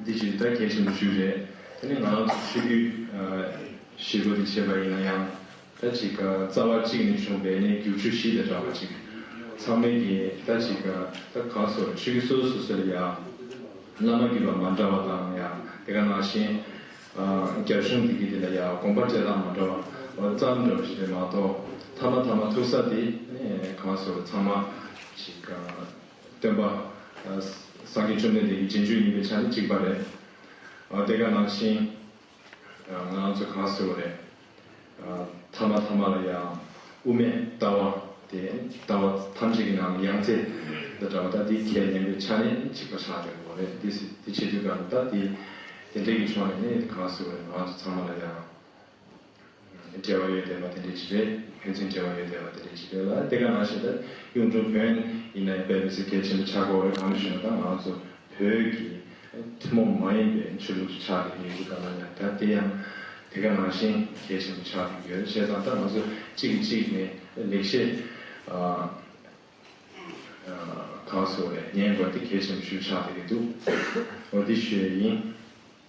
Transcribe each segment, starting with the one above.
འདི་ཇི་ལྟར་གལ་ཆེན་པོ་ཞིག་རེད། དེ་ནི་ང་རང་ཚོ་ཆོས་བརྒྱུད་ཞེ་དགུ་དེ་བྱས་པ་ཡིན་ན་ཡང། ད་ཅིག་རྩ་བ་གཅིག་ནས་བྱུང་བའི་གནས་འགྱུར་ཆོས་གཞི་དང་འདྲ་བ་ཅིག་ཚང་མལ་གྱི་ད་ཅིག་ད་གང་སོར་ཆོས་བརྒྱུད་སོ་སོ་སོ་སོ་ལ་ཡང་བླ་མ་བརྒྱུད་པ་མ་འདྲ་བ་དང་ཡང་དེ་ག་ནང་བཞིན་རྒྱ་གཞུང་དེ་གི་དེ་ལ་ཡང་དགོངས་པ་བཅད་ལྷག་མ་འདྲ་བ་ཙམ་འདྲ་བ་ཞིག་རེད་མ་གཏོགས་ཐ་མ་ཐ་མ་ཐུག་ས་དེ་གང་སོར་ཚང་མ་ཅིག། སྟོན་པ། སངས་རྒྱས་བཅོམ་ལྡན་འདས་ཀྱི་རྗེས་འཇུག་ཡིན་པའི་ཆ་ནི་གཅིག་པ་རེད། དེ་ག་ནང་བཞིན་ང་རང་ཚོས་གང་ཟེར་བ་རེད། ཐ་མ་ཐ་མ་ལ་ཡང་དབུ་མའི་ལྟ་བ་དེ་ལྟ་བ་ཐམས་ཅད་ཀྱི་ནང་ནས་ཡང་རྩེ་འདི་འདྲ་བ་དང་འདི་གལ་ཡིན་པའི་ཆ་ནས་གཅིག་པ་ཆགས་ཡོད་པ་རེད། དེ་བྱེད་དུས་ག་ལ་དག་དེ་དེ་འདྲའི་ཀྱི་ཕྱོགས་ནས་ནི་གང་ཟེར་བ་རེད་ང་ཚོ་ཚང་མ་ལ་ཡང་འབྲེལ་བ་ཡོད་དེ་བ་དེ་འདྲའི་ཇི་རེད། ཕན་ཚུན་འབྲེལ་བ་ཡོད་དེ་བ་དེ་འདྲའི་ཇི་རེད་ལ་དེ་ག་ང་ཞེ་ད་གཡུང་དྲུང་བོན་ཡིན་ན་དཔལ་མི་སེར་སྐད་ཆེན་པོ་ཆག་གོ་རེད་གང་ལས་ཞུས་ན་ད་ང་ཚོ་བོད་ཀྱི་ཐུན་མོང་མ་ཡིན་པའི་ཆོས་ལུགས་སུ་ཆགས་ཀྱི་ཡོད་ཅེ་ད་ང་ལ་ད་དེ་ཡང་དེ་ག་ང་བཞིན་གལ་ཆེན་པོ་ཆགས་ཀྱི་ཡོད་བྱས་ཙང་ད་ང་ཚོ་གཅིག་གིས་གཅིག་ནས་ལེགས་བཤད་གང་སོ་རེད་ཉན་དགོས་ཏེ་གལ་ཆེན་པོ་ཞུ་ཆགས་དེ་གི་འདུག་འོ་དེ་ཞུས་ཡིན།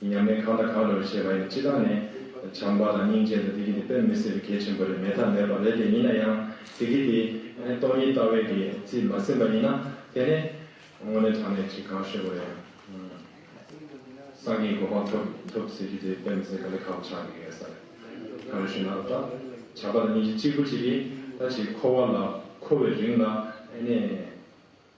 ཉམས་ལེན་གང་དང་གང་རེད་བྱས་པ་ཡིན་སྤྱི་བཏང་ནས་བྱམས་པ་དང་སྙིང་རྗེ་དང་བདེ་སྐྱིད་དེ་དཔེ་མི་སྲིད་པའི་གལ་ཆེན་པོ་རེད་མེད་ཐབས་མེད་པ་རེད་དེ་ཡིན་ན་ཡང་བདེ་སྐྱིད་དེ་སྟོང་ཉིད་ལྟ་བས་ཀྱི་རྩིས་མ་ཟིན་པ་ཡིན་ན་དེ་ནས་དངོས་གནས་དྲང་གནས་ཅིག་གང་ཤེས་པོ་རེད་སངས་རྒྱས་གོ་འཕང་ཐོབ་ཐུབ་ཟེར་རྒྱུ་དེ་དཔེ་མི་སྲིད་ག་ལེ་ཁ་བོ་ཆགས་ཀྱི་ཡོད་ས་རེད་ག་རེ་ཞུ་ན་ལབ་ད་བྱམས་པ་དང་སྙིང་རྗེ་གཅིག་པུ་གཅིག་གིས་ད་ཅིག་འཁོར་བ་ལ་འཁོར་བའི་རིང་ལ་ཨེ་ནས།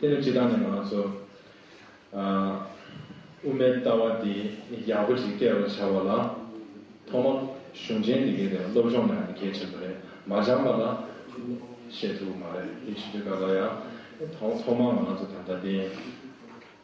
དེ་ནི་ཇི་ལྟར་ནས་ང་ཚོ་དབུ་མའི་ལྟ་བ་འདི་ཡག་པོ་ཞིག་སྐྱེལ་བར་བྱ་བ་ལ་ཐོག་མ་གཞུང་ཆེན་འདི་གའི་ཐད་སློབ་སྦྱོང་གནང་ཡང་གལ་ཆེན་པོ་རེད་མ་སྦྱངས་པ་ལ་བཤད་ཐུབ་ཀྱི་མ་རེད་དེ་ཕྱི་དྲོའི་སྐབས་ལ་ཡང་ཐོག་མ་ང་ཚོ་ད་ལྟ་འདི།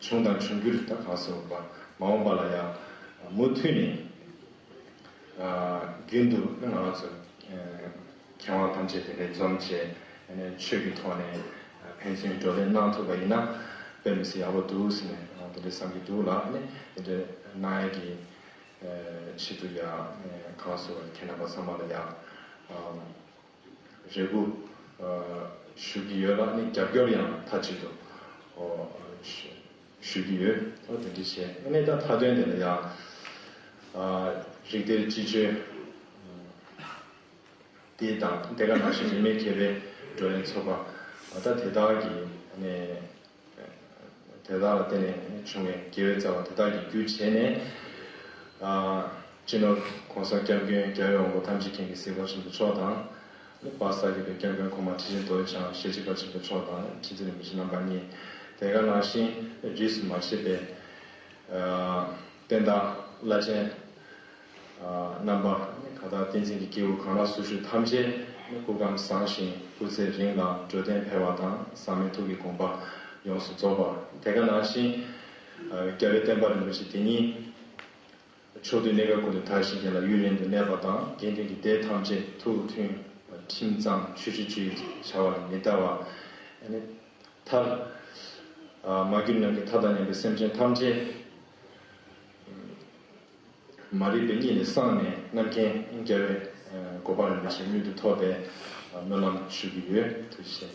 བྱུང་དང་འབྱུང་འགྱུར་ད་གང་སྲིད་འོངས་པ་མ་འོངས་པ་ལ་ཡང་མུ་མཐུད་ནས་རྒྱུན་དུ་ང་ལ་ཚོ་མཁས་དབང་ཐམས་ཅད་དེ་འདྲའི་འཛོམས་བྱས་ནས་ཆོས་ཀྱི་ཐོག་ནས་ཕན་ཚུན་བགྲོ་གླེང་གནང་ཐུབ་པ་ཡིན་ན་དཔེ་མི་སྲིད་ཡག་པོ་འདུག་ཟེར་ནས་དེ་འདྲའི་བསམ་གྱི་འདུག་ལ་ནི་དེ་འདྲའི་གནང་ཡས་ཀྱི་ཞིབ་ཏུ་ཡག་གང་སྲིད་འོས་ཁྱེད་རྣམ་པ་ཚང་མ་ལ་ཡག། རེ་སྒུག་ཞུ་གི་ཡོད་ལ་ནི་རྒྱབ་སྐྱོར་ཡང་མཐའ་གཅིག་ཏུ་ཞུ་གི་ཡོད་ལ་དེ་འདྲས་བྱས་ཨེ་ནས་ད་མཐའ་དོན་དེ་ལ་ཡང་རིགས་གཏེར་སྤྱི་སྤྱོད་དེ་དང་དེ་ག་ནང་བཞིན་རིས་མེད་མཁས་པའི་བགྲོ་གླེང་ཚོགས་པ་ད་དེ་དག་གི་ནས། དེ་དག་ལ་བརྟེན་ནས་བྱུང་བའི་དགེ་བའི་རྩ་བ་དེ་དག་གི་རྒྱུ་བྱས་ནས། སྤྱི་ནོར ྋགོང་ས ྋསྐྱབས་མགོན་རྒྱལ་བའི་དབང་པོ་ཐམས་ཅད་མཁྱེན་གྱི་སྲས ྋགོང་ཆེན་པོ་མཆོག་དང། ྋརིག་པ་གསར་འགྱུར་པའི ྋསྐྱབས་མགོན་གོང་མ་ཁྲི་ཆེན་རྡོ་རྗེ་འཆང་ཞལ་གཅིག་པ་ཆེན་པོ་མཆོག་དང ྋཁྲི་འཛིན་རིན་པོ་ཆེ་རྣམ་པ་གཉིས་དེ་ག་ནང་བཞིན་རིས་སུ་མ་ཆད་པའི། བསྟན་བདག་བླ་ཆེན། རྣམ་པ། ད་ལྟ་བསྟན་འཛིན་གྱི་སྐྱེས་བུ་གང་ལ་སུ་ཞུ་ཐམས་ཅད་ནི་སྐུ་ཁམས་བཟང་ཞིང་སྐུ་ཚེ་རིང་ལ་འགྲོ་དོན་འཕེལ་བ་དང་ཟག་མེད་ཐུགས་ཀྱི་དགོངས་པ་ཡོངས་སུ་རྫོགས་པ་དེ་ག་ནང་བཞིན་རྒྱལ་བའི་བསྟན་པ་རིན་པོ་ཆེ་དེ་ཉིད་ཕྱོགས་དུས་གནས་སྐབས་ཀུན་ཏུ་དར་ཞིང་རྒྱས་ལ་ཡུན་རིང་དུ་གནས་པ་དང་དགེ་འདུན་གྱི་སྡེ་ཐམས་ཅད་ཐུགས་མཐུན་ཁྲིམས་གཙང་ཆོས་སྤྱོད་ཅི་ཡོད་བྱ་བ་ལས་མི་འདའ་བ་ནི་མཐར་མ་གྱུར་ནང་གི་མཐའ་དང་ཉམས་པའི་སེམས་ཅན་ཐམས་ཅད། མ་རིག་པའི་གཉིད་ལས་སངས་ནས་རྣམ་མཁྱེན་རྒྱལ་བའི་གོ་འཕང་རིན་པོ་ཆེ་མྱུར་དུ་ཐོབ་པའི་སྨོན་ལམ་ཞུ་གི་ཡོད་ཐུགས་རྗེ་ཆེ།